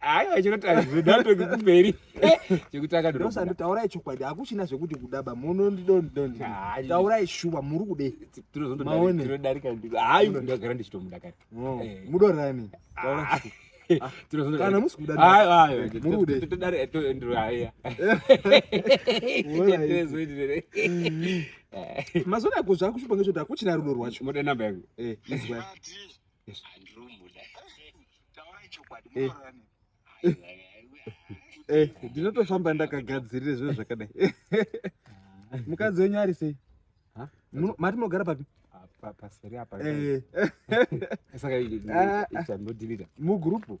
aiwa chinotaridhatoki kumberi chekuti akadosanditaurai chokwadi hakuchina zvekuti kudaba munondidondidonditaurai shuwa muri kudei tinozodarika hayi ndagara ndichitomuda kare mudorani kana musi kudamazuva ako zvakuchipanga choti akuchina rudo rwacho moda namba yangu izwa Eh. Eh, ndinotofamba ndakagadzirira zviro zvakadai mukadzi wenyu ari sei mati munogara papi paseri apa eh. saka ah, ah. chandodhilita mugrupu